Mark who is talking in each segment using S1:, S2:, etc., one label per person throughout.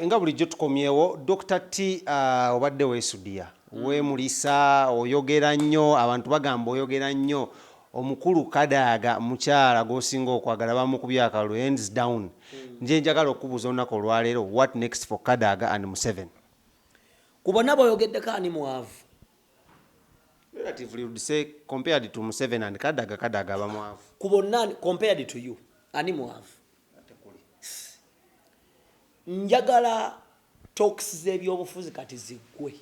S1: Nga bulijjo tukomyewo Dokita T uh, obadde wesudiya mm. wemulisa oyogera nnyo abantu bagamba oyogera nnyo omukulu kadaaga mukyala gwosinga okwagala bamukubye akalu ends down mm. nje njagala okubuuza olunaku olwaleero what next for kadaaga and museven ku
S2: bonna boyogeddeko ani mwavu relatively
S1: would say compared to museven and kadaaga kadaaga abamwavu ku bonna compared
S2: to you ani mwavu Njagala talks z'ebyobufuzi kati ziggwe.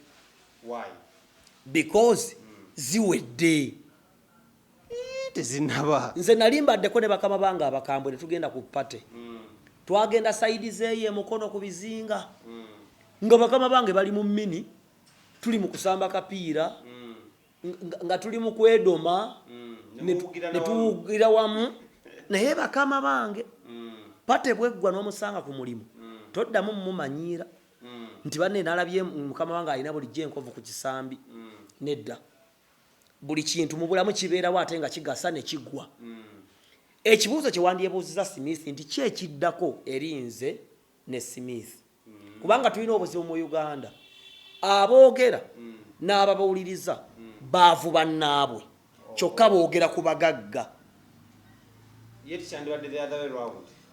S2: Why? Because mm. ziwedde. Eh,
S1: tezinaba. Nze nali mbaddeko ne
S2: bakama bange abakambwe ne tugenda ku party. Mm. Twagenda saidi zeeyo emukono ku bizinga. Mm. Nga bakama bange bali mu mini tuli mu kusamba kapiira. Mm. nga tuli mu kwedoma netuwugira wamu naye bakama bange pate bweggwa n'omusanga ku mulimu toddamu mumumanyiira nti banne nalabye mukama wange alina bulijjo enkovu ku kisambi nedda buli kintu mu bulamu kibeerawo ate nga kigasa ne kiggwa ekibuuzo kye wandyebuuziza smith nti ki ekiddako eri nze ne smith kubanga tulina obuzibu mu uganda aboogera n'ababawuliriza baavu bannaabwe kyokka boogera ku bagagga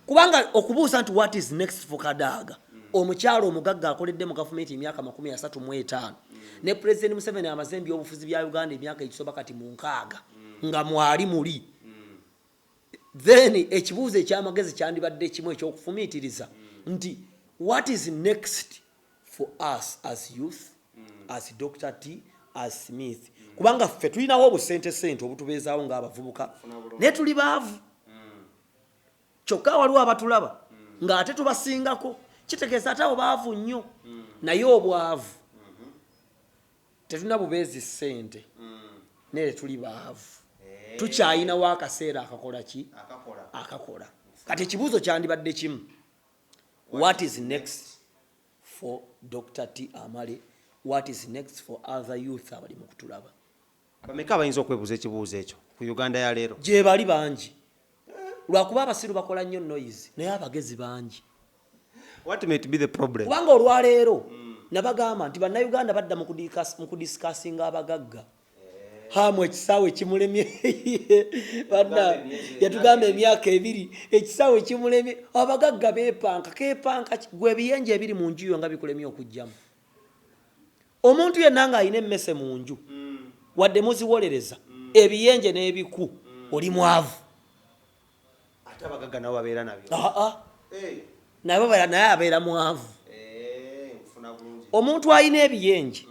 S2: kubanga okubuuza nti what is next for kadaaga omukyalo omugagga akoledde mu gavumenti emyaka makumi asatu mu etaano ne pulezidenti museveni amaze embyobufuzi bya uganda emyaka egisoba kati mu nkaaga nga mwali muli Then ekibuuzo ekyamagezi kyandibadde ekimu ekyokufumiitiriza nti what is next for us as youth as Dr. T as Smith kubanga ffe tulinawo obusente sente obutubeezaawo ng'abavubuka naye tuli baavu kyokka waliwo abatulaba ng'ate tubasingako kitegeeza ate abo baavu nnyo naye obwavu tetulina bubeezi ssente naye tetuli baavu eh. tukyayinawo akaseera akakola ki akakola kati ekibuuzo kyandibadde kimu what is next for dr t amale what is next for other youth abali mu kutulaba Bameka abayinza
S1: okwebuza ekibuuzo ekyo ku Uganda ya leero? Gyebali bangi
S2: lwakuba abasiru bakola nnyo noise naye abagezi bangi. What
S1: might be the problem? Kubanga olwaleero mm.
S2: nabagamba nti bannayuganda badda mu kudisikasinga abagagga hamu ekisaawe kimulemye yatugamba emyaka ebiri ekisaawe kimulemye abagagga bepanka kepanka gwe ebiyenje ebiri mu njuyo nga bikulemye okujjamu Omuntu yenna ng'alina emmese mu nju, wadde muziwolereza ebiyenje n'ebiku, oli mwavu.
S1: Ate abagagga nabo babeera nabyo? Aa, nabo babeera,
S2: naye abeera mwavu. Omuntu alina ebiyenje,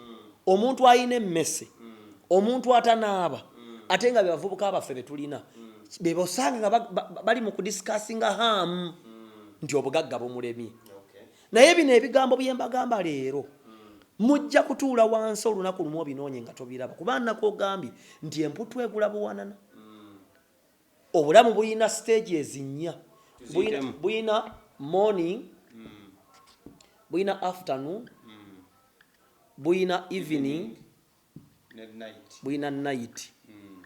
S2: omuntu alina emmese, omuntu atanaaba, ate nga bebavubuka baffe betulina bebosanga nga bali mu kudisikasinga haamu nti obugagga bumulemye. naye bino ebigambo byembagamba leero mujja kutuula wansi olunaku lumu obinoonye nga tobiraba kuba nnaku ogambye nti emputtu egula buwanana obulamu bulina siteegi ezinnya bulina morning bulina afternoon bulina evening bulina nayiti hmm.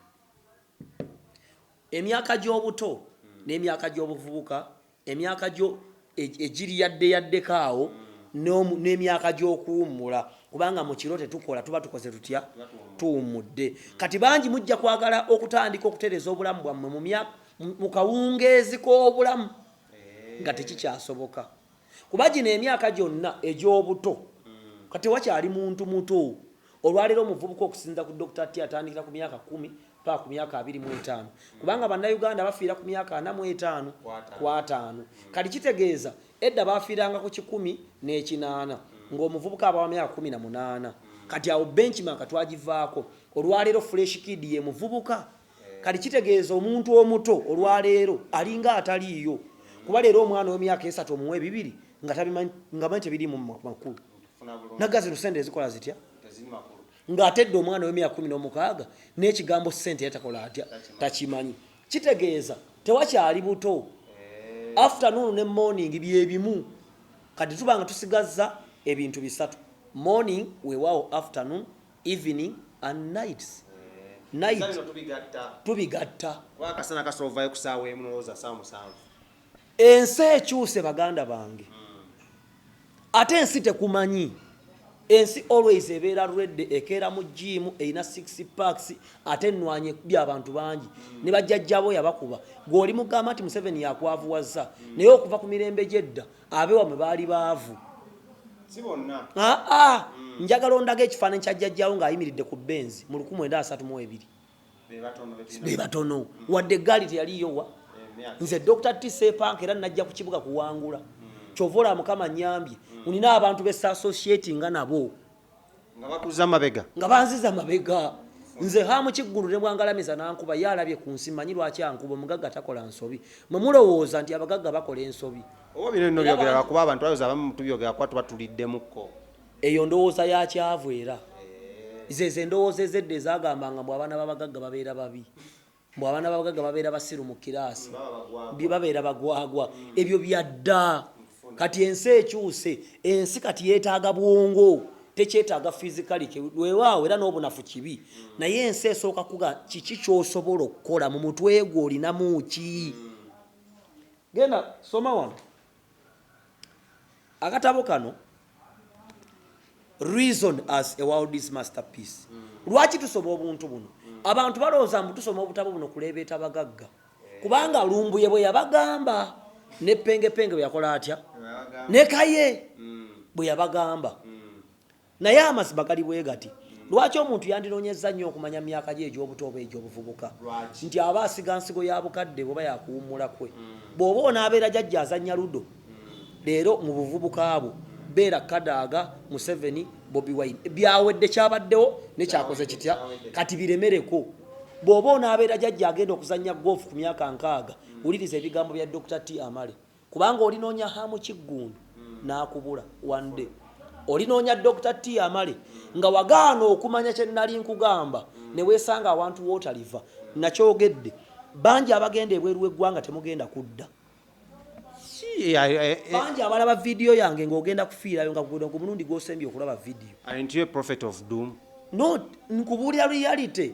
S2: emyaka gy'obuto hmm. n'emyaka gy'obuvubuka emyaka gyo e-, egiri yadde yaddeko awo hmm. n'emyaka gy'okuwummula kubanga mu kiro tetukola tuba tukoze tutya tuwummudde kati bangi mujja kwagala okutandika okutereeza obulamu bwammwe mu kawungeezi k'obulamu eh. nga tekikyasoboka kuba gino emyaka gyonna egy'obuto kati wakyali muntu muto olwaleero omuvubuka okusinza ku dr t atandikira ku myaka kumi paa ku myaka abiri mu etaano kubanga bannayuganda bafiira ku myaka ana mu etaano ku ataano kati kitegeeza edda bafiiranga ku kikumi n'ekinaana ng'omuvubuka abawa myaka kumi na munaana kati awo benchmark twagivaako olwaleero fresh kid ye muvubuka kati kitegeeza omuntu omuto olwaleero alinga ataliiyo kuba leero omwana wemyaka esatu omuwa ebibiri nga tabimanyi nga manyi tebirimu makulu naga zino sente ezikola zitya ng'ate dde omwana w'emyaka kumi n'omukaaga n'ekigambo ssente yatakola atya takimanyi kitegeeza tewakyali buto eh. afternoon ne morning byebimu kati tuba nga tusigazza ebintu bisatu morning weewaawo afternoon evening and nights night tubigatta
S1: ensi
S2: ekyuse baganda
S1: bange
S2: hmm. ate ensi tekumanyi ensi always ebeera redde ekeera mu jiimu erina six parks ate enwanyi ekubya abantu bangi hmm. ne bajjajjabo yabakuba gweoli mugamba nti museveni yakwavuwazza hmm. naye okuva ku mirembe gyedda abe wamwe baali baavu
S1: ah, ah. mm. njagala
S2: ondaga ekifaananyi kya jjajjawo ng'ayimiridde ku benzi mu lukumu enda asatu mu ebiri be batono mm. wadde eggaali teyaliyowa eh, nze dr tsepanka era najja ku kibuga kuwangula mm. kyova olaba mukama nyambye unina abantu besasosyeti nga nabo nga bakuza
S1: mabega nga banziza mabega
S2: nze hamu kiggulu ne bwangalamiza nankuba ye alabye ku nsi manyi lwaki ankuba omugagga takola nsobi mwe mulowooza nti abagagga bakola ensobi oba bino bino byogera
S1: lwakuba abantu bayoza abamu mutubyogera kuba tuba tuliddemukko eyo ndowooza
S2: yakyavu era zezo endowooza ezedda ezagambanga mbu abaana babagagga babeera babi mbu abaana babagagga babeera basiru mu kiraasi babeera bagwagwa ebyo byadda kati ensi ekyuse ensi kati yetaaga bwongo tekyetaaga fizikali wewaawo era n'obunafu kibi naye ensi esooka kuga kiki kyosobola okukola mu mutwe gwo olinamu ki genda soma wano akatabo kano reason as a world is master piece mm. lwaki tusoma obuntu buno mm. abantu balowooza mbu tusoma obutabo buno kuleebeeta bagagga eh. kubanga lumbuye bwe yabagamba ne pengepenge bwe yakola atya ne kaye mm. bwe yabagamba naye amazima gali bwe gati lwaki omuntu yandinoonyezza nnyo okumanya mu myaka gye egy'obuto oba egy'obuvubuka nti aba asiga nsigo ya bukadde oba yakuwummula kwe mm. bw'oba onaabeera jajja azannya ludo mm. leero mu buvubuka bwo beera kadaaga museveni bobi wine byawedde kyabaddewo nekyakoze kitya kati biremereko bw'oba onaabeera jajja agenda okuzannya goofu ku myaka nkaaga mm. wuliriza ebigambo bya dr t amale Kubanga olinoonya Ham Kiggundu n'akubula one day. Olinoonya Dokita Tiamale nga wagaana okumanya kye nnali nkugamba ne weesanga awantu w'otaliva. Nnakyogedde. Bangi abagenda ebweru w'eggwanga temugenda kudda. Bangi abalaba vidiyo yange ng'ogenda kufiirayo nga guno gwe mulundi gw'osembye okulaba vidiyo. Aren't you a prophet of
S1: doom? No,
S2: nkubuulira reality.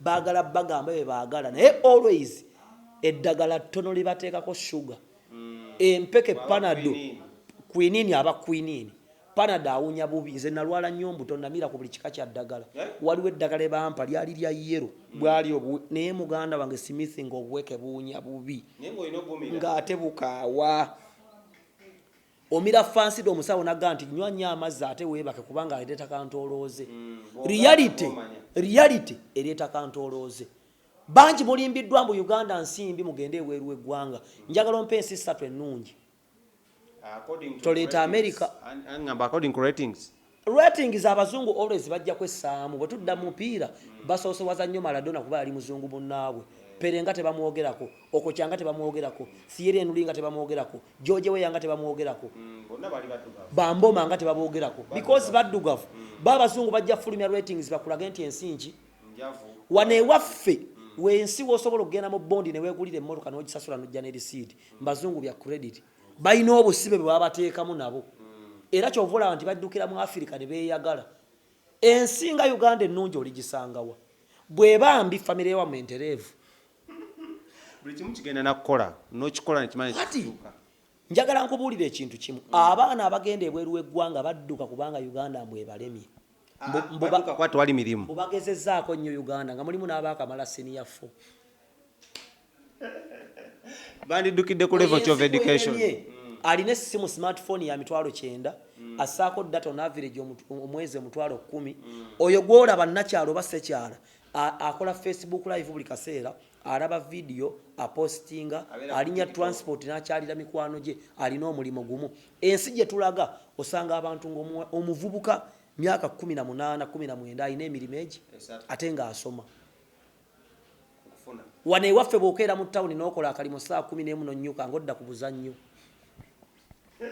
S2: bagala bagamba bebagala naye always eddagala ttono libateekako sugar mm. empeke panado kwinini aba kwinini panado awunya bubi nze nalwala nnyo mbuto namira ku buli kika kya ddagala eh? waliwo eddagala ebampa lyali lya yero mm. bwali obu naye muganda wange simithinga obuweke buwunya bubi ngaate bukaawa omira fansida omusawo naga nti nywa nnyo amazzi ate weebake kubanga ereeta kantoolooze mm, reality reality ereeta kantoolooze bangi mulimbiddwa mbu uganda nsimbi mugende ebweru weggwanga mm. njagala ompa ensi ssatu ennungi toleeta america
S1: Rating za
S2: abazungu always bajja kwessaamu bwe tudda mu mupiira basoose waza nnyo Maradona kuba yali muzungu munnaabwe Pere nga tebamwogerako Okocha nga tebamwogerako Thierry Henry nga tebamwogerako George Weah nga tebamwogerako mm, Bamboma nga tebaboogerako because baddugavu mm. ba abazungu bajja fulumya ratings bakulage nti ensi nki wano ewaffe mm. wensi wosobola okugenda mu bondi newegulira emmotoka nogisasula nojja nerisiidi mbazungu bya credit balina obusibe bwe babateekamu nabo era kyova olaba nti baddukira mu afirika ne beeyagala ensinga uganda ennungi oligisangawa bweba mbi famire yewamwe entereevu
S1: buli kimu kigenda nakukola nokikola nekimanyi njagala nkubuulira
S2: ekintu kimu abaana abagenda ebweru w'eggwanga badduka kubanga uganda mbu ebalemye
S1: ah, mbu bagezezaako nnyo
S2: uganda nga mulimu n'abaakamala siniya fo
S1: bandiddukidde ku level of education alina essimu
S2: smartphone ya mitwalo kyenda mm. assaako data on average omwezi omutwalo kumi mm. oyo gwolaba nakyalo oba sekyala akola facebook live buli kaseera alaba vidiyo apostinga alinya transport nakyalira mikwano gye alina omulimu gumu ensi gye tulaga osanga abantu ngaomuvubuka myaka 18 19 alina emirimu egi ate ngaasoma wano ewaffe bwokeera mu tawuni nokola akalimu saa kumi nemu nonyuka ngaodda ku buzannyo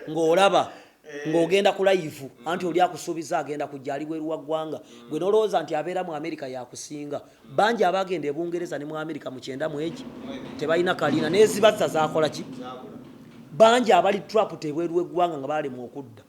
S2: ng'olaba eh. ng'ogenda ku layivu anti oli akusuubiza agenda kujja ali bweru wa ggwanga mm. gwe nolowooza nti abeera mu amerika yakusinga bangi abagenda ebungereza ne mu amerika mu kyenda mwegi tebalina kaliina nezibazza zakola ki bangi abali trap tebweru weggwanga nga balemwa okudda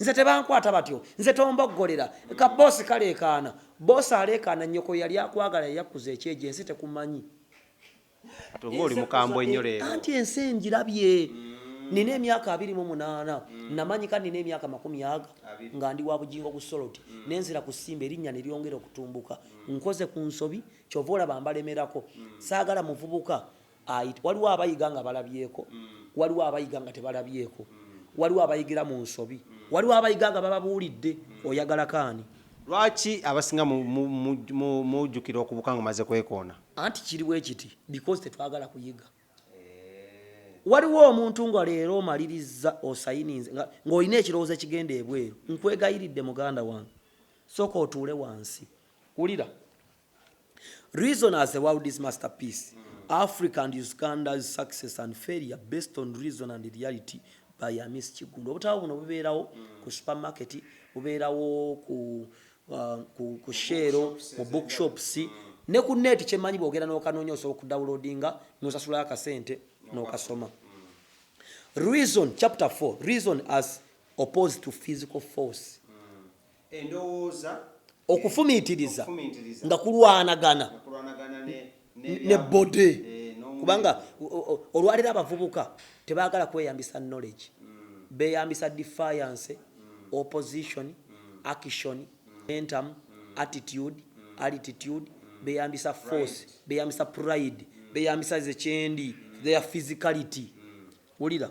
S2: nze tebankwata batyo nze tomboggolera ka boosi kaleekaana boosi aleekaana nnyoko yali akwagala yayakkuza ekyejo ensi tekumanyi
S1: oba oli mukambwe nnyo leero anti ensi engirabye
S2: nina emyaka abiri mu munaana mm. namanyika nina emyaka makumi aga nga ndi wa bugingo ku soloti mm. nenzira ku simba erinnya ne lyongera okutumbuka mm. nkoze ku nsobi kyova olaba mbalemerako saagala muvubuka It, waliwo abayiga nga balabyeko, waliwo abayiga nga tebalabyeko, waliwo abayigira mu nsobi, waliwo abayiga nga bababuulidde. Oyagala kaani? Lwaki
S1: abasinga mujukira okubuka nga omaze kwekoona? Anti kiri bwe kiti
S2: because tetwagala kuyiga. Waliwo omuntu nga leero omalirizza osayininze ng'olina ekirowoozo ekigenda ebweru, nkwegayiridde muganda wange sooka otuule wansi. Wulira, Reason as the world's masterpiece, Africa and Uganda's success and failure based on reason and reality by Amis Kiggundu. Obutabo buno bubeerawo ku supermarket, bubeerawo ku, uh, ku, ku sheero, mu bookshops, ne ku net kyemanyi bwogera n'okanoonya osobola okudawulodinga n'osasulayo akasente n'okasoma. Reason, chapter 4, reason as opposed to physical force. okufumiitiriza nga kulwanagana ne bode eh, kubanga olwaliro abavubuka tebagala kweyambisa knowledge mm. beyambisa defiance mm. opposition mm. action mentum attitude altitude beyambisa force beyambisa pride beyambisa zekyendi their physicality wulira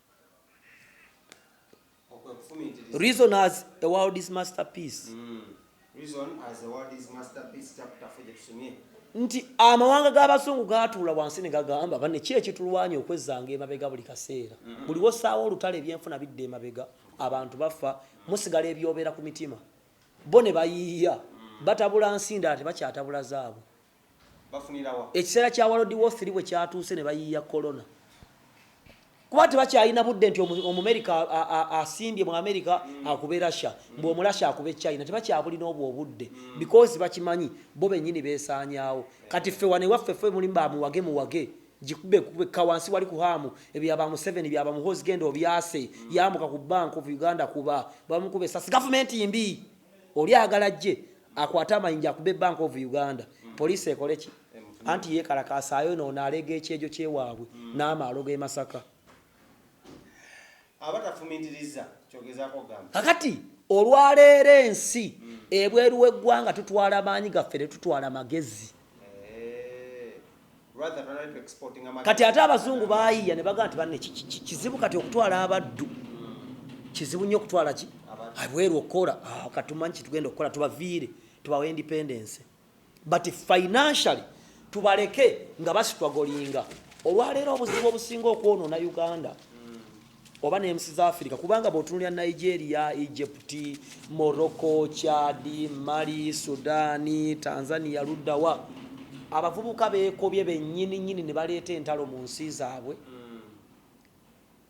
S2: Reason as a world is masterpiece. Mm. Reason
S1: as a world is masterpiece chapter 4 jetusomye. Nti
S2: amawanga g'abasungu gaatuula wansi ne gagamba bane ki ekitulwanya okwezanga emabega buli kaseera. Mm -hmm. Buli wosaawo olutale ebyenfuna bidde emabega abantu bafa musigala ebyobeera ku mitima. Bo ne bayiiya mm. batabula nsinda ate bakyatabula zaabwe. ekiseera kya walodi wothiri bwe kyatuuse ne bayiiya kolona kuba tebakyalina budde nti omumerika asimbye mu amerika mm. akube rasha mm. mbu omurasha akube china tebakyabulina obwo obudde mm. because bakimanyi bo benyini besanyawo kati ffe wane waffe fe muli bamuwage muwage jikube kubeka wansi wali kuhamu ebyaba mu 7 byaba mu hose genda obyase yamuka ku bank of uganda kuba bamukube sas government imbi oli agala ajje akwate amayinja akube bank of uganda poliisi ekole ki anti yekalakasaayo noono aleega ekyejo kyewaabwe hmm. n'amaalo g'e masaka
S1: kakati
S2: olwaleero ensi hmm. ebweru w'eggwanga tutwala maanyi gaffe tetutwala magezi eh. kati ate abazungu bayiya ne bagaa nti banne kizibu kati okutwala abaddu kizibu nnyo okutwala ki abweru okukola ah, katumanyi kitugenda okukola tubaviire tubawa independence but financially tubaleke nga basitwagolinga olwaleero obuzibu obusinga okwonoona uganda oba n'ensi za afirika kubanga bw'otunulira nigeria egypt morocco chadi mali sudani tanzania luddawa abavubuka beekobye bennyini nnyini ne baleeta entalo mu nsi zaabwe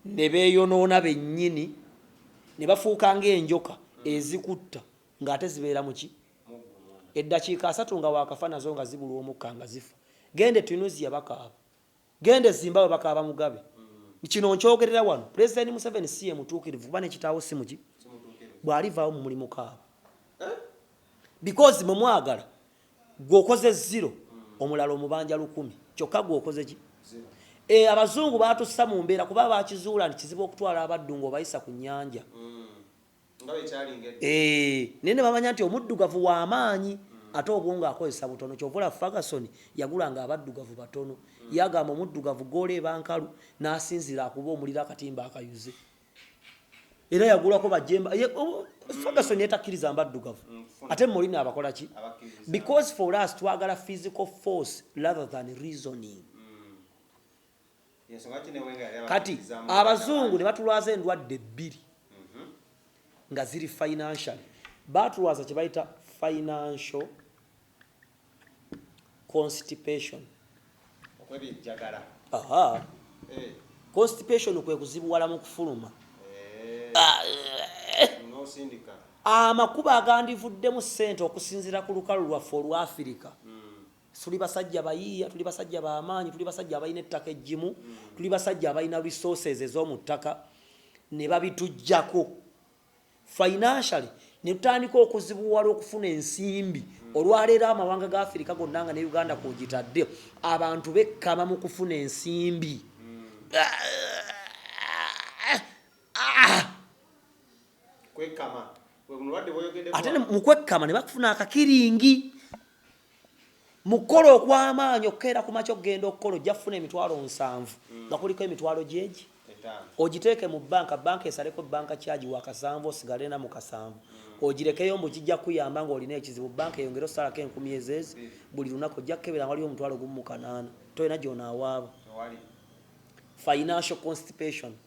S2: ne beeyonoona bennyini ne bafuuka ng'enjoka ezikutta ng'ate zibeera mu ki eddakiika asatu nga waakafa nazo nga zibulwa omukka nga zifa genda etunisia bakaaba Genda e Zimbabwe bakaaba Mugabe. Kino nkyogerera wano, Pulezidenti Museveni si ye mutuukirivu kuba ne kitaawo si muki. Bw'alivaawo mwe mulimukaaba because mwe mwagala gwe okoze zero omulala omubanja lukumi kyokka gwe okoze ki. E, abazungu baatussa mu mbeera kuba baakizuula nti kizibu okutwala abaddu ng'obayisa ku nnyanja. Eh, naye ne bamanya nti omuddugavu wa maanyi ate obwongo akozesa butono kyova olaba ferguson yagulanga abaddugavu batono ye agamba omuddugavu goola eba nkalu n'asinziira akuba omuliro akatimba akayuze era yagulako bajemba ferguson yetakkiriza mbaddugavu ate molina abakola ki because for us twagala physical force rather than reasoning kati abazungu ne batulwaza endwadde bbiri mhm. nga ziri financial batulwaza kye bayita financial constipation aha eh. constipation kwe kuzibuwala mu kufuluma eh. ah, eh. amakuba agandivuddemu ssente okusinziira ku lukalu lwaffe olwa afirika hmm. Tuli basajja bayiiya, tuli basajja ba maanyi, tuli basajja abalina ettaka eggimu, tuli basajja abalina resources ez'omu ttaka ne babitujjako financially ne tutandika okuzibuwala okufuna ensimbi. Olwaleero amawanga ga Afirika gonna nga ne Uganda kw'ogitadde abantu bekkama mu kufuna ensimbi. ate mu kwekkama ne bakufuna akakiringi mu kukola okw'amaanyi okukeera ku makya okugenda okukola ojja kufuna emitwalo nsanvu mm. nga kuliko emitwalo gyegi ogiteeke mu banka banka esaleko banka kyagi wakasanvu osigale na mukasanvu mm. ogirekeyo mbu kijja kuyamba ngaolina ekizibu banka eyongere osalako enkumi ezeezi mm. buli lunaku ojja kukebera waliwo omutwalo gumu mukanaana tolina gyonawaaba financial constipation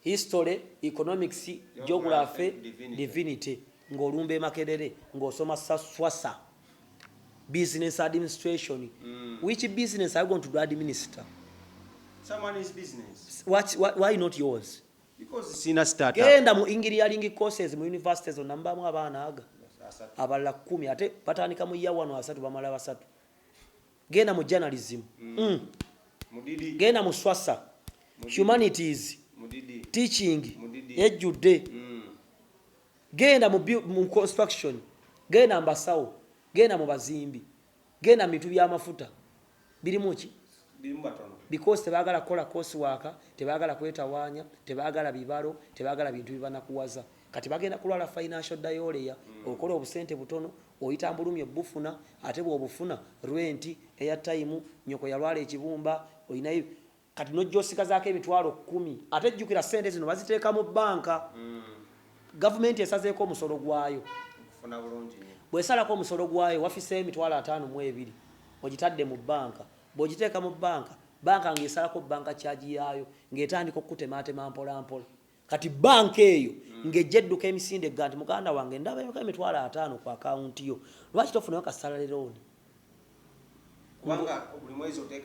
S1: History,
S2: Economics, Geography, Divinity ng'olumba e Makerere ng'osoma Swasa, Business Administration. Which business are you going to do administer? Someone
S1: is business. What, what, why not
S2: yours? Because sina
S1: startup. Genda mu engineering
S2: courses mu universities on number mu abana aga. Abala kumi ate patani kamu ya wano asatu bamala basatu. genda mu journalism mm. mm.
S1: genda mu swasa
S2: humanities
S1: teaching
S2: ejjudde mm. genda mu construction genda mbasawo genda mu bazimbi genda mu bintu byamafuta birimu ki
S1: because tebagala kukola
S2: kosi waaka tebagala kwetawaanya tebagala bibalo tebagala bintu bibanakuwaza kati bagenda kulwala financial dayolea mm. okola obusente butono Oyita mbulumi obbufuna ate bwobufuna rent, air time, nyoko yalwala ekibumba olina eb kati nojja osigazako emitwalo kumi ate jjukira sente zino baziteeka mu bank gavumenti esazeeko omusolo gwayo
S1: bwesalako omusolo
S2: gwayo wafiseeyo emitwalo ataano mu ebiri ojitadde mu bank bwojiteeka mu bank bank nga esalako bank charge yaayo nga etandika okukutemaatema mpola mpola kati banka eyo mm. ng'ejja edduka emisinde egga nti muganda wange ndaba yoka emitwalo ataano ku akawunti yo lwaki tofunayo kasalale looni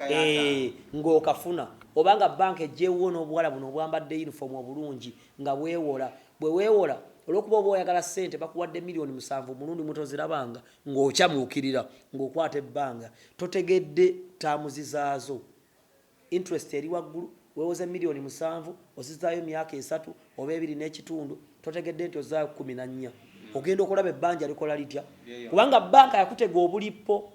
S2: eh, ng'okafuna oba nga banka ejjeewuwo n'obuwala buno obwambadde yunifoomu obulungi nga bwewola bwe weewola olwokuba oba oyagala sente bakuwadde miliyoni musanvu omulundi mutozirabanga ng'okyamuukirira ng'okwata ebbanga totegedde taamuzi zaazo Interest eri waggulu, weewoze million musanvu ozizaayo myaka esatu oba ebiri n'ekitundu totegedde nti ozaayo kkumi na nnya. Ogenda okulaba ebbanja likola litya kubanga banka yakutega obulippo.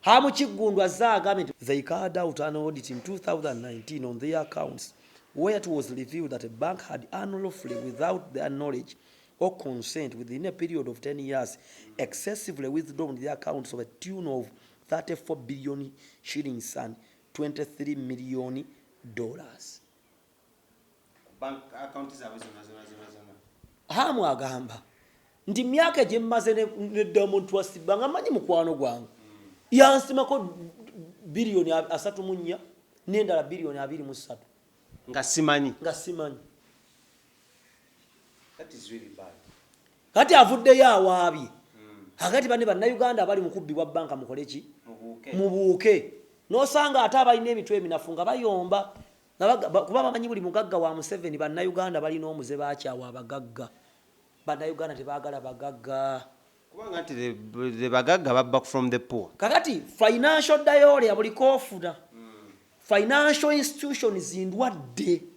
S2: Ham Kiggundu azze agambye nti they carried out an audit in 2019 on their accounts where it was revealed that a bank had unlawfully without their knowledge or consent within a period of 10 years excessively withdrawn their accounts of a tune of 34 billion shillings and 23 million dollars. Hamu agamba nti myaka gye mmaze ne Diamond Twasibba nga manyi mukwano gwange yansimako biliyoni asatu mu nnya n'endala biliyoni abiri mu ssatu nga
S1: simanyi nga simanyi
S2: kati avuddeyo awaabye hmm. akati banne bannayuganda abali mu kubbibwa banka mukole ki mubuuke nosanga ate abalina emitwe eminafu nga bayomba kuba bamanyi buli mugagga wa museveni bannayuganda balina omuze bakyawa abagagga bannayuganda tebagala
S1: bagagga kakati financial
S2: diole abulikofuna hmm. financial institutions ndwadde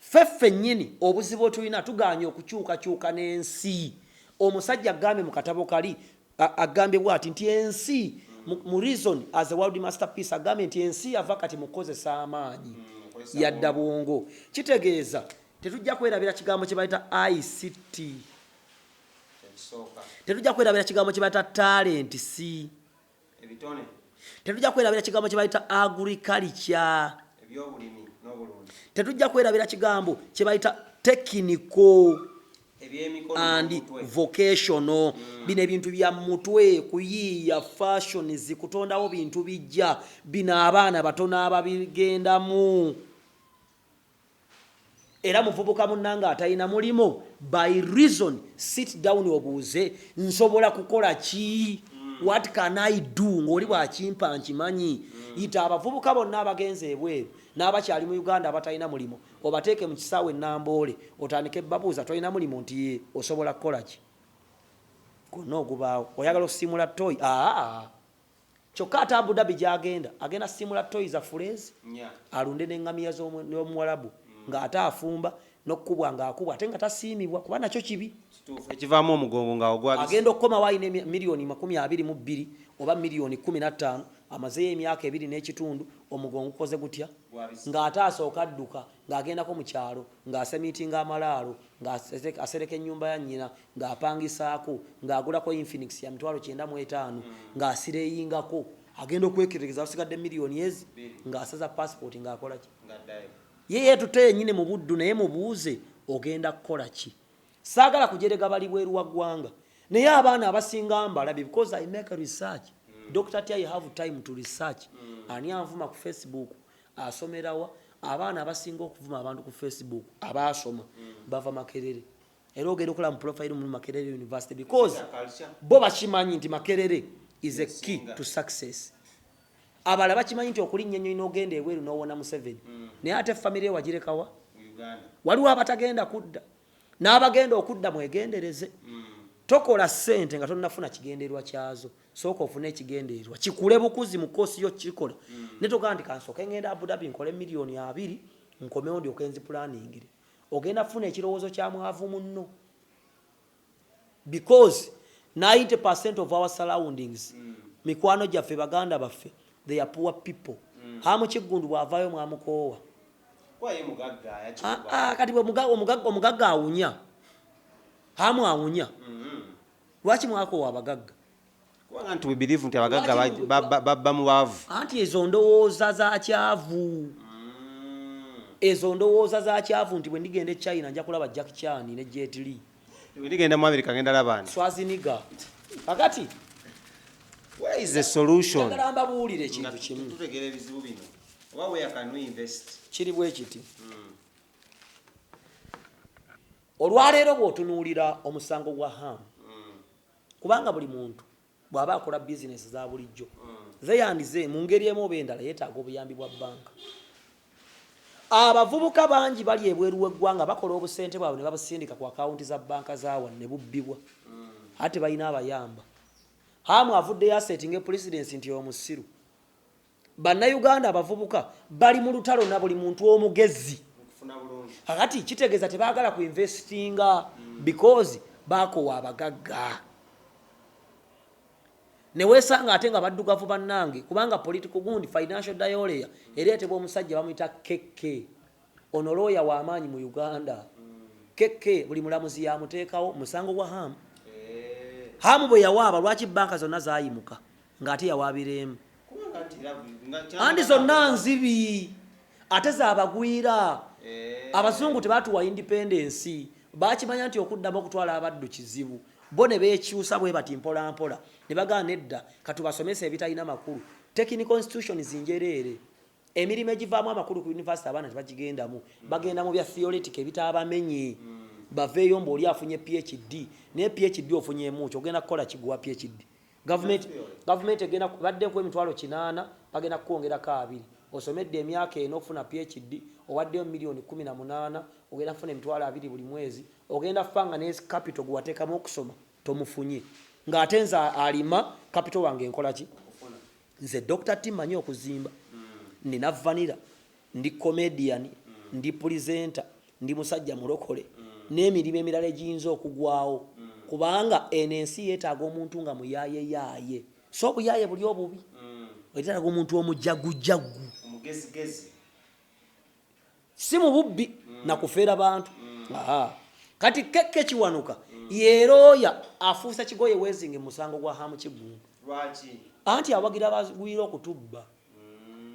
S2: Ffe ffennyini obuzibu bwe tulina tugaanye okukyukakyuka n'ensi. Omusajja agambye mu katabo kali agambye bwati nti ensi mu reason as a world masterpiece agambye nti ensi yava kati mu kukozesa amaanyi mm, yadda bwongo. Kitegeeza tetujja kwerabira kigambo kye bayita ICT, tetujja kwerabira kigambo kye bayita talenti si ebitone tetujja kwerabira kigambo kye bayita agriculture ebyobulimi n'obulungi tetujja kwerabira kigambo kye bayita tekiniko and vocational mm. bino ebintu bya mutwe kuyiiya fashions kutondawo bintu bijja bino abaana batono ababigendamu Era muvubuka munange atalina mulimu by reason sit down obuuze nsobola kukola ki what can I do ngoli bwakimpa nkimanyi yita abavubuka bonna abagenze ebweru n'abakyali mu Uganda abatalina mulimu obateeke mu kisaawe e Namboole otandike babuuza tolina mulimu nti yee osobola kukola ki gwonna ogubaawo oyagala osimula toyi aa Kyokka ate Abu Dhabi gy'agenda agenda kusiimula ttooyi za Fuleezi alunde n'engamiya z'Omuwalabu mm. ng'ate afumba n'okukubwa ng'akubwa ate nga tasiimibwa kuba nakyo kibi ekivaamu omugongo
S1: nga ogwa agenda okukomawo alina
S2: miliyoni makumi abiri mu bbiri oba miliyoni kumi na ttaano amazeeyo emyaka ebiri n'ekitundu omugongo gukoze gutya ng'ate asooka adduka ng'agendako mu kyalo ng'asemiitinga amalaalo ng'asereka ennyumba ya nnyina ng'apangisaako, ng'agulako Infinix ya mitwalo kyenda mu etaano, ng'asireyingako. Agenda okweketegereza wasigadde million ez ng'asaza passport ng'akola ki? Ye yeetutte yennyini mu Buddu naye mubuuze ogenda kukola ki? Saagala kujerega bali bweru wa ggwanga naye abaana abasinga mbalabye because I make research. Dokita atya I have time to research. Ani anvuma ku Facebook? Asomera wa? Abaana abasinga okuvuma abantu ku Facebook abaasoma bava Makerere. era ogenda okulaba mu profile mu makerere university because bo bakimanyi nti makerere is a key to success abala bakimanyi nti okulinnya ennyonyi n'ogenda ebweru n'owona museveni mm. naye ate famire yo wagirekawa waliwo abatagenda kudda n'abagenda okudda mwegendereze mm. tokola ssente nga tonnafuna kigendererwa kyazo sooka ofune ekigendererwa kikule bukuzi mu koosi yo kikola mm. ne togamba nti kansooke ngenda abudabi nkole miliyoni abiri nkomewo ndyoke nzipulaaningire ogenda kufuna ekirowoozo kya mwavu munno because 90 percent of our surroundings mm. mikwano gyaffe baganda baffe they are poor people mm. amukiggundu bw'avaayo mwamukoowa ah, ah, kati omugagga awunya amu awunya mm-hmm. lwaki mwakoowa abagagga kubanga nti we
S1: believe nti abagagga babba mu baavu anti ezo ndowooza
S2: za kyavu mm. ezo ndowooza za kyavu nti bwe ndigenda e china nja kulaba jack chan ne jet lee bwe ndigenda mu
S1: america ngenda labani swaziniga
S2: kakati
S1: where is the solution njagala mbabuulire ekintu
S2: kimu tutegeera ebizibu bino
S1: oba where can we invest kiri bwe kiti
S2: hmm. olwaleero bw'otunuulira omusango gwa hamu Kubanga buli muntu bw'aba akola bizinensi za bulijjo ze and ze, mu ngeri emu oba endala yeetaaga obuyambi bwa bbanka. Abavubuka bangi bali ebweru w'eggwanga bakola obusente bwabwe ne babusindika ku akawunti za bbanka za wano ne bubbibwa ate balina abayamba. Ham avuddeyo aseetinge pulisidensi nti omusiru. Bannayuganda abavubuka bali mu lutalo na buli muntu omugezi. Kakati kitegeeza tebaagala ku investinga mm. because baakowa abagagga. Ne weesanga ate nga baddugavu bannange kubanga political gundi financial diolea ereetebwa omusajja bamuyita KK. Ono looya w'amaanyi mu Uganda. KK mm. buli mulamuzi yamuteekawo musango gwa hamu. Eh. Hamu bwe yawaaba lwaki banka zonna zaayimuka. nga ate yawaabira emu andi zonna nzibi ate zabagwira eh. abazungu tebatuwa independensi bakimanya nti okuddamu okutwala abaddu kizibu bo ne bekyusa bwe bati mpolampola ne bagaana edda katubasomesa ebitalina makulu tekini constitution zinjereere emirimu egivaamu amakulu ku univesity abaana tebagigendamu bagenda mu bya theoretic ebitaabamenye mm. baveeyo mbu oli afunye phd naye phd ofunyemuki ogenda kukola kiguwa phd Gavumenti gavumenti egenda badde ku emitwalo kinaana bagenda kukwongerako abiri osomedde emyaka ena okufuna PHD owaddeyo milioni kumi na munaana ogenda kufuna emitwalo abiri buli mwezi ogenda fa nga ne capital gwewateekamu okusoma tomufunye ng'ate nze alima capital wange nkolaki Nze Dokita T manyi okuzimba, nina vanira, ndi comedian, ndi presenter, ndi musajja mulokole n'emirimu emirala egiyinza okugwawo kubanga eno ensi yeetaaga omuntu nga muyaayeyaaye si obuyaaye buli obubi. Yeetaaga omuntu omujagujaggu. si mu bubbi na kufera bantu Aha. kati kekke kiwanuka yerooya afuusa kigoye wezinge musango gwa hamu kiggundu
S1: anti awagira
S2: bagwira okutubba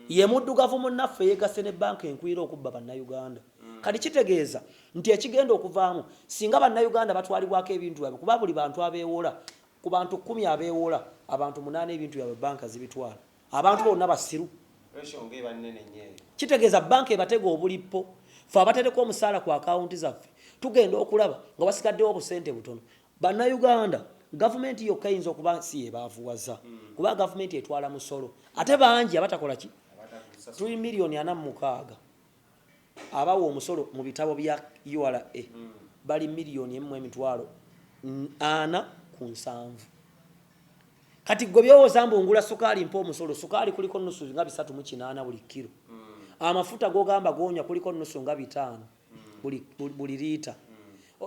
S2: ye muddugavu munnaffe yeegasse ne banka enkwira okubba bannayuganda kati kitegeeza nti ekigenda okuvaamu singa bannayuganda batwalibwako ebintu byabwe kuba buli bantu abeewola ku bantu kkumi abeewola abantu munaana ebintu byabwe banka zibitwala Abantu bonna basiru. Kitegeeza banka ebatega obulippo fe abatereka omusaala ku akawunti zaffe tugenda okulaba nga wasigaddewo obusente butono. Bannayuganda gavumenti yokka eyinza okuba si yebaavuwaza hmm. kuba gavumenti etwala musolo ate bangi abatakola ki tuli miliyoni ana mu mukaaga. Abawa omusolo mu bitabo bya ura bali million emu mu emitwalo ana ku nsanvu. Kati gwe byowoza mbu ngula sukaali mpa omusolo, sukaali kuliko nusu nga bisatu mu kinaana buli kilo. Amafuta gogamba gonywa kuliko nusu nga bitaano buli liita.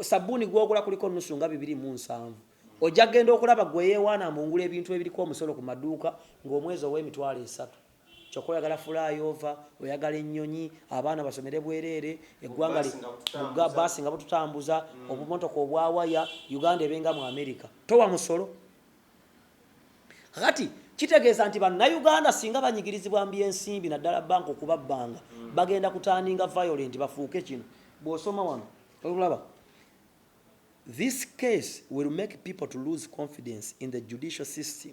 S2: Sabbuni gwogula kuliko nusu nga bibiri mu nsanvu. Oja genda okulaba gwe eyewaana mbu ngula ebintu ebiriko omusolo ku maduuka nga omwezi owa emitwalo esatu. Kyoka oyagala fulayoova, oyagala enyonyi, abaana basomere bwereere, eggwanga li bugga, bus nga bututambuza, obumotoka obwa waya, Uganda ebe nga mu America. Towa musolo? Kakati kitegeeza nti bannauganda singa banyigirizibwa mu byensimbi naddala banka okubabbanga mm. bagenda kutandinga violent bafuuke kino bw'osoma wano olaba this case will make people to lose confidence in the judicial system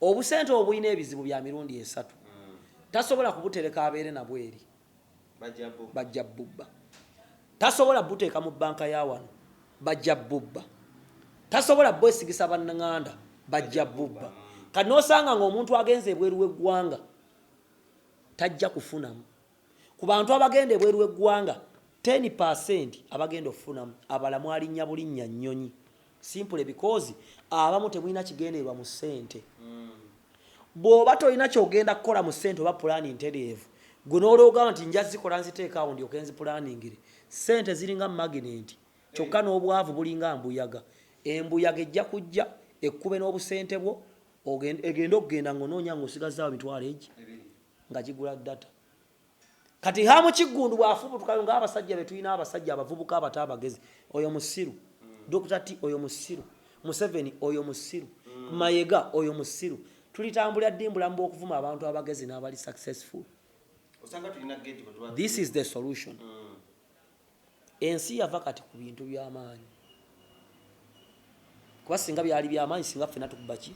S2: Obusente obwo bulina ebizibu bya mirundi esatu. Tasobola kubutereka abeere nabwo eri bajja bubba. Tasobola buteeka mu bbanka ya wano bajja bubba. Tasobola bwesigisa bannanganda bajja bubba. Kati n'osanga ng'omuntu agenze ebweru w'eggwanga tajja kufunamu. Ku bantu abagenda ebweru w'eggwanga, ten per cent abagenda okufunamu abala mwalinnya bulinnya nnyonyi simply because abamu temulina kigendererwa mu ssente. Bw'oba tolina ky'ogenda kukola mu ssente oba pulaani ntereevu, ggwe n'olwogamba nti nja zikola nziteeke awo ndyoke nzipulaaningire, ssente ziringa maginenti kyokka n'obwavu bulinga mbuyaga. Embuyaga ejja kujja ekkube n'obusente bwo, ogende, egende okugenda ng'onoonya ng'osigazaawo emitwalo egi, nga gigula data kati hamu kiggundu bw'afubutukayo ng'abasajja be tulina abasajja abavubuka abato abagezi oyo musiru dokita t oyo musiru museveni oyo musiru mm. mayega oyo musiru tulitambulira ddi mbulamu bw'okuvuma abantu abagezi n'abali successful this is the solution mm. Ensi yava kati ku bintu by'amaanyi. Kuba singa byali by'amaanyi singa ffena tukuba ki?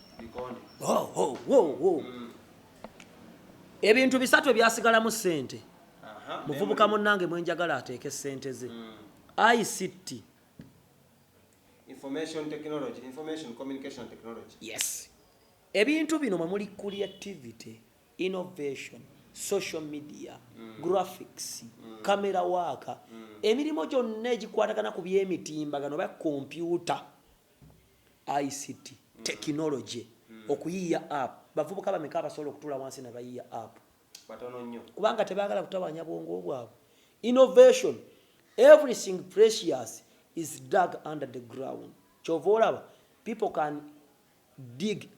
S2: Oh, oh, oh, oh. Ebintu bisatu ebyasigalamu ssente. Muvubuka munnange mwenjagala ateeke ssente ze. Mm. ICT. Information
S1: technology, information communication technology. Yes.
S2: Ebintu bino mwe muli creativity. innovation, social media, graphics, camera work, emirimu gyonna egikwatagana ku by'emitimbagano oba kompyuta, ICT, technology, okuyiiya app. Bavubuka bameka abasobola okutuula wansi ne bayiiya app? Batono nnyo.
S1: Kubanga tebaagala kutawaanya
S2: bwongo bwabwe. Innovation, everything precious is dug under the ground. Kyova olaba people can Dig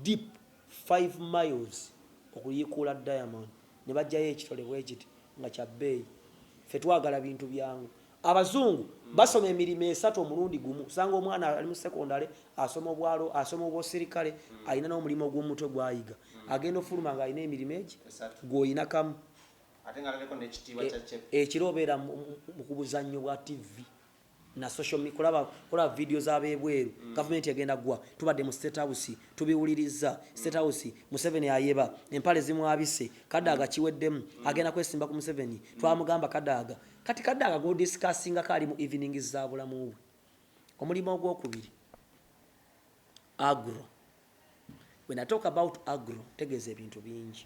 S2: deep five miles okuyiikuula diamond ne baggyayo ekitole bwe kiti nga kya bbeeyi. Ffe twagala bintu byangu. Abazungu basoma emirimo esatu omulundi gumu. Osanga omwana ali mu sekondale, asoma obwalo, asoma obwosirikale, alina n'omulimu ogw'omu mutwe gw'ayiga. Agenda ofuluma ng'alina emirimo egi gw'olina kamu.
S1: Ekiro obeera
S2: mu kubuzannyo bwa ttivvi. na social mi kulaba kulaba video za bebweru mm. government egenda gwa tubadde mu state house tubiwulirizza state mm. house museveni ayeba empale zimwabise kadaaga mm. kiweddemu mm. agenda kwesimba ku museveni mm. twamugamba kadaaga kati kadaaga godiscassinga kaali mu evening za bulamu bwe omulimu ogwokubiri agro When I talk about agro, tegeeza ebintu bingi.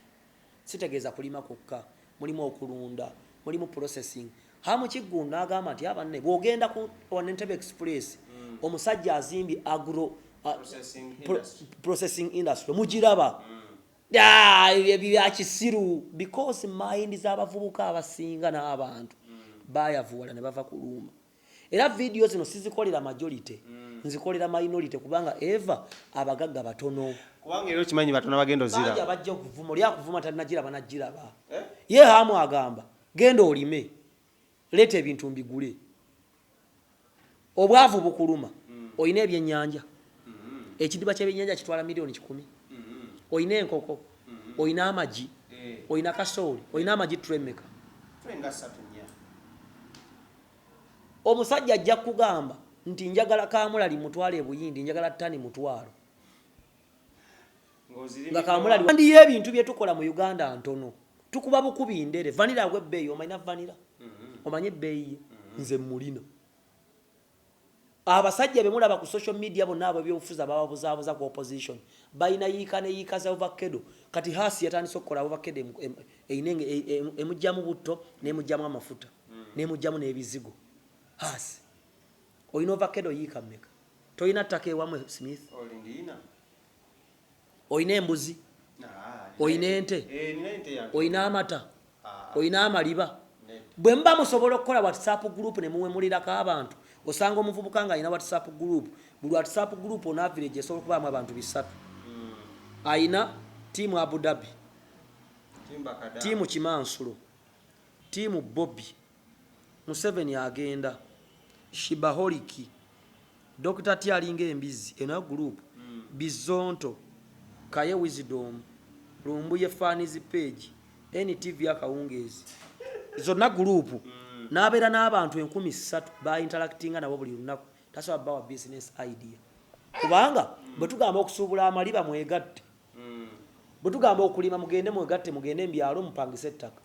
S2: Sitegeeza kulima kwokka, mulimu okulunda, mulimu processing. Hamu Kiggundu n'agamba nti abanne bw'ogenda ku Entebbe Express, mm. omusajja azimbye agro uh, processing industry mugiraba mm. ah, byakisiru because mind z'abavubuka abasinga n'abantu mm. bayavuwala ne bava kuluuma. era vidiyo zino sizikolera majority mm. nzikolera minority kubanga eva abagagga batono kubanga era okimanyi
S1: batono bagenda ozira bajja okuvuma oli
S2: akuvuma talinagira banagiraba eh? ye hamu agamba genda olime leeta ebintu mbigule obwavu bukuluma mm. olina ebyenyanja mm-hmm. ekidiba kyebyenyanja kitwala miliyoni kikumi mm-hmm. olina enkoko mm-hmm. olina amagi eh. olina kasooli olina amagi tremeka Omusajja ajja kukugamba nti njagala kaamulali mmutwale e Buyindi njagala ttani mutwalo nga kaamulali. Andi y'ebintu bye tukola mu Uganda ntono. Tukuba bukubi ndere. Vanira agwa ebbeeyi. Omalina vanira? Mm-hmm. Omanyi ebbeeyi ye? Mm-hmm. Nze mmulina. Abasajja bemulaba ku social media bonna abebyobufuzi abababuzabuza ku opposition balina yiika ne yiika za ovakkedo kati haasi yatandise okukola ovakkedo eyina enge emujjamu butto nemujjamu amafuta nemujjamu nebizigo haasi oyina ovakkedo yiika meka toyina ttaka ewamwe smith olina embuzi olina ente olina amata olina amaliba bwe muba musobola okukola whatsapp group ne muwemulirako abantu osanga omuvubuka nga alina whatsapp group buli whatsapp group ona village esobola okubaamu abantu bisatu hmm. alina tiimu abu dhabi tiimu kimansulo tiimu bobi Museveni agenda shibaholiki Dokita T alinga embizzi eno ya group Bizonto Kaye Wisdom Lumbuye Fans Page NTV Akawungeezi zonna group n'abeera n'abantu enkumi ssatu b'ainteractinga nabo buli lunaku tasobola bawa business idea kubanga bwe tugamba okusuubula amaliba mwegatte Bwe tugamba okulima mugende mwegatte mugende mu byalo mupangise ettaka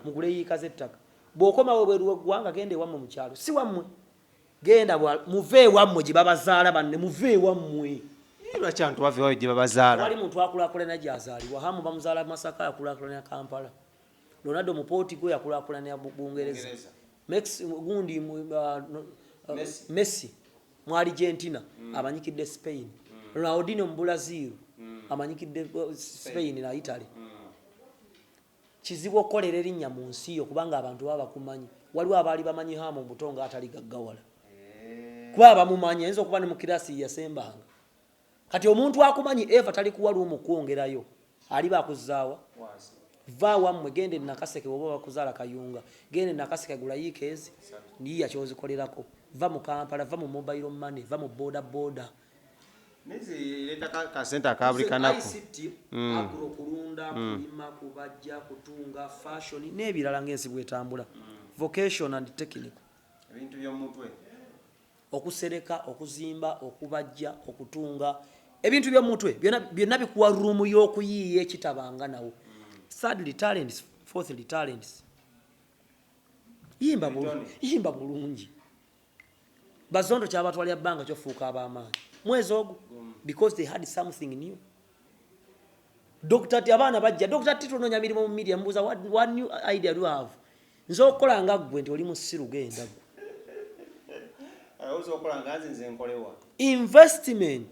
S2: mugule yiika z'ettaka bw'okomawo ebweru w'eggwanga genda ewammwe mu kyalo si wammwe genda muve ewammwe gye babazaala banne muve ewammwe lwaki abantu
S1: bava ewaabwe gye babazaala wali muntu akulakulana
S2: gy'azaalibwa hamu bamuzaala masaka yakulakulanira kampala ronaldo mupooti gwe yakulakulanira bungereza gundi uh, uh, messi mu Argentina mm. amanyikidde Spain mm. Ronaldinho mu Brazil mm. amanyikidde uh, Spain na Italy mm. kizibu okukolera erinnya mu nsi yo kubanga abantu baba bakumanyi waliwo abaali bamanyi haamu omuto nga atali gaggawala eh. kuba abamumanyi ayinza okuba ne mu kirasi yasembanga kati omuntu akumanyi eva talikuwa lumu kwongerayo aliba akuzaawa va wammwe genda enakaseke oba bakuzaala kayunga genda enakaseke gulayiika ezi niyiya kyozikolerako va mu kampala va mu mobile money va mu boda
S1: boda
S2: nebirala ngaensi bwetambula mm. vocation and technical okusereka okuzimba okubajja okutunga ebintu byomutwe byonna bikuwa ruumu y'okuyiiya ekitabanga nawo sadly talents fourthly talents yimba bulungi bazondo kyabatwalira bbanga kyofuuka ab'amaanyi mwezi ogwo because they had something new Dokita ti abaana bajja. Dokita ti tunonya mirimu mu media mbuza what, what new idea do you have? Nze okola nga gwe nti oli musiru genda gwe. Ayozo okola nga nze nze nkolewa. Investment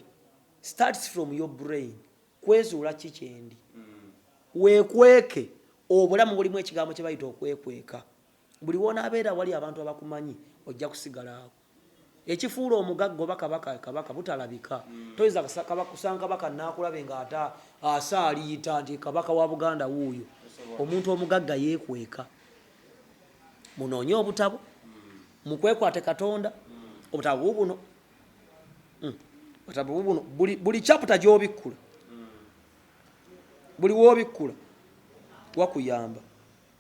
S2: starts from your brain. Kwezuula ki kyendi. Mm. Wekweke obulamu bulimu ekigambo kye bayita okwekweka. Buli wona abeera wali abantu abakumanyi ojja kusigala ako. Ekifuula omugagga oba kabaka kabaka butalabika. Toyinza kusanga kabaka nnakulabe ng'ate asaaliita nti kabaka wa Buganda wuuyo. Omuntu omugagga yeekweka. Munoonye obutabo, mukwekwate Katonda, obutabo bubuno. Hmm. Obutabo bubuno buli chaputa gy'obikkula, buli w'obikkula wakuyamba.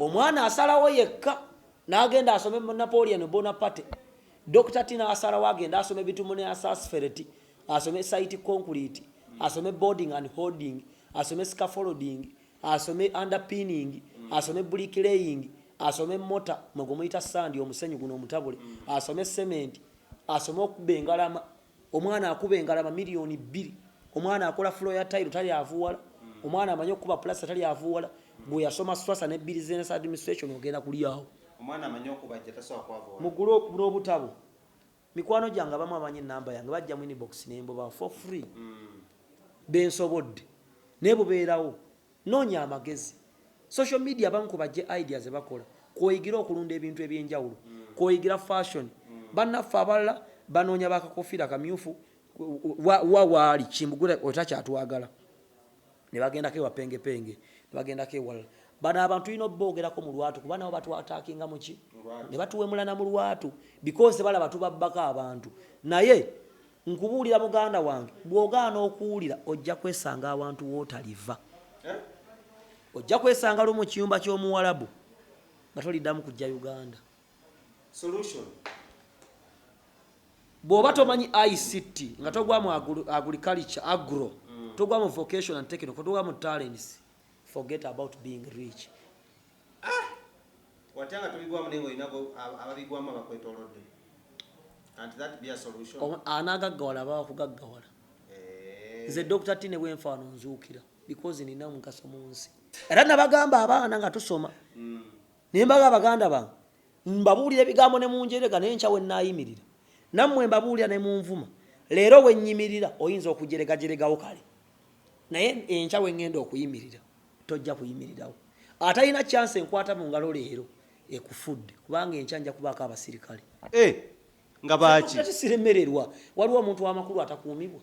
S2: omwana asalawo yekka n'agenda asome mu napoleon bonaparte dr tina asalawo agenda asome bitumu ne asasfereti asome site concrete asome boarding and holding asome scafolding asome underpinning asome bricklaying asome mota mwegumuyita sandi omusenyu guno omutabule asome cement asome okuba engalama omwana akuba engalama miliyoni bbiri omwana akola fulo ya tayiro tali avuwala omwana amanyi okukuba pulasa tali avuwala gwe yasoma swasa ne business administration ogenda kulyawo
S1: mugule okubula obutabo
S2: mikwano gyange abamu amanyi enamba yange bajja mu inbox nembubawo for free mm. bensobodde naye bubeerawo Noonya amagezi. Social media abamu ku bajje idea ze bakola kw'oyigira okulunda ebintu eby'enjawulo, kw'oyigira fashion. Bannaffe abalala banoonya ba kakoofiira kamyufu wa wa waali Kimbugwe oyo takyatwagala ne bagendako ewa Pengepenge ne bagendako ewalala. Bano abantu tulina oboogerako mu lwatu kuba nabo batwataakinga mu ki? Ne batuwemula na mu lwatu because balaba tubabbako abantu naye Nkubuulira muganda wange, bw'ogaana okuwulira ojja kwesanga awantu w'otaliva. Ojja kwesanga lumu mu kiyumba ky'Omuwarabu nga toliddamu kujja Uganda. Solution. Bw'oba tomanyi ICT nga togwa mu agriculture, agro, togwa mu vocation and technical, togwa mu talents, forget about being rich.
S1: Ah! Watya nga tobigwamu naye ng'olina ababigwamu abakwetoolodde. Can't that be a solution? Anaagaggawala aba
S2: wakugaggawala. Eh. Nze Dr. Tine bwenfaano nzuukira because nina omugaso mu nsi. Era nabagamba abaana nga tusoma. Mm. Naye mbaga abaganda bange mbabuulira ebigambo ne munjerega naye nkya we nnaayimirira. Nammwe mbabuulira ne munvuma. Leero wenyimirira oyinza okujeregajeregawo kale. naye enkya wengenda okuyimirira tojja kuyimirirawo atalina chance enkwata mu ngalo leero ekufudde kubanga enkya nja kubaako abasirikale eh,
S1: nga baaki siremererwa
S2: waliwo omuntu wamakulu atakuumibwa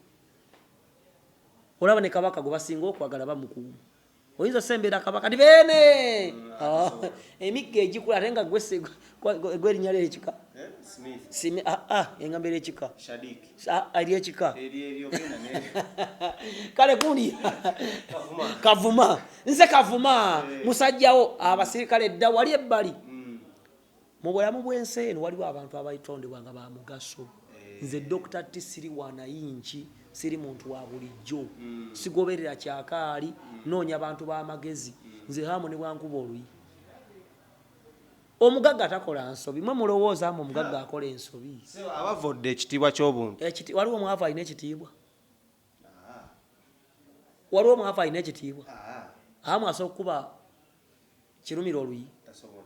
S2: olaba ne kabaka gwe basinga okwagala bamukuuma oyinza osembera kabaka ti beene ah, emigga egikula ate nga gwerinya lyekika eh, ah, ah, engamba eryekika
S1: eryekika kale
S2: kundi kavuma nze kavuma eh. musajjawo abasirikale dda wali ebbali mm. Mu bulamu bw'ensi eno waliwo abantu abaitondebwa nga ba mugaso. Nze Dokita T siri wa nayinki, siri muntu wa bulijjo. Sigoberera kyakaali, nnoonya bantu ba magezi. Nze Ham ne bw'ankuba oluyi. Omugagga takola nsobi. Mwe mulowooza mbu omugagga akola ensobi? Ssebo, abavvodde ekitiibwa
S1: ky'obuntu. Ekiti, waliwo omwavu alina
S2: ekitiibwa? waliwo omwavu alina ekitiibwa amu asobola okukuba kirumira oluyi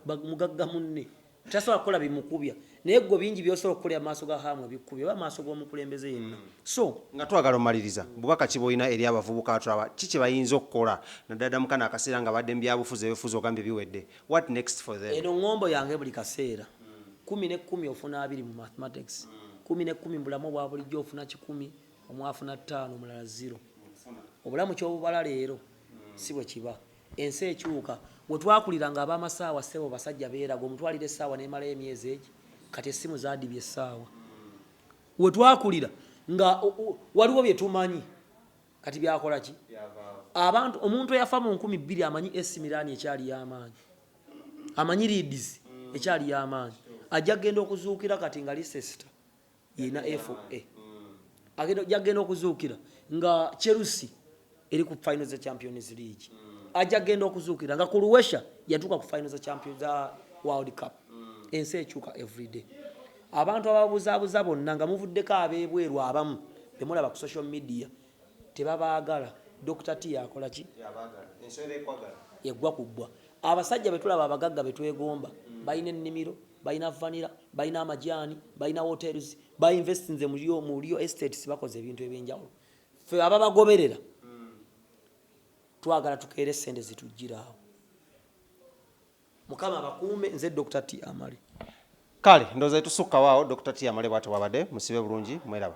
S2: mugagga munne tasobola kukola bimukubya naye gwe bingi byosobola okukolera maaso ga hamu ebikukubya oba maaso g'omukulembeze yenna mm. so nga twagala omaliriza
S1: bubaka ki bwolina eri abavubuka atulaba ki kye bayinza okukola naddala mu kano akaseera nga badde mu byabufuzi ebifuzi ogambye biwedde what next for them eno ngombo yange buli
S2: kaseera mm. kumi ne kumi ofuna abiri mu mathematics mm. kumi ne kumi mu bulamu obwa bulijjo ofuna kikumi omu afuna ttaano omulala ziro obulamu kyobubala leero si bwe kiba ensi ekyuka we twakulira nga ab'amasaawa ssebo basajja beeraga omutwalira essaawa n'emalayo emyezi egi kati essimu zadibye essaawa we twakulira nga waliwo bye tumanyi kati byakola ki abantu omuntu eyafa mu nkumi bbiri amanyi esimiraani ekyali y'amaanyi amanyi liidizi ekyali y'amaanyi ajja kugenda okuzuukira kati nga lisesita yena FA agenda jagenda okuzuukira nga Chelsea eri ku final za Champions League mm. aja genda okuzuukira nga Croatia yatuuka ku final za Champions za World Cup mm. ensi ekyuka everyday abantu ababuzaabuza bonna nga muvuddeko ab'ebweru abamu bemulaba ku social media tebabaagala Dr. T yakola ki yagwa kuggwa abasajja betulaba abagagga betwegomba mm. balina ennimiro balina vanira balina amajaani balina hotels bainvestinze mu lio estates bakoze ebintu ebyenjawulo fe ababagoberera twagala tukeere sente zitujjiraawo mukama abakuume nze dr t amale kale
S1: ndoza etusukka waawo dr tiamale bwati wabade musibe
S2: bulungi
S1: mweraba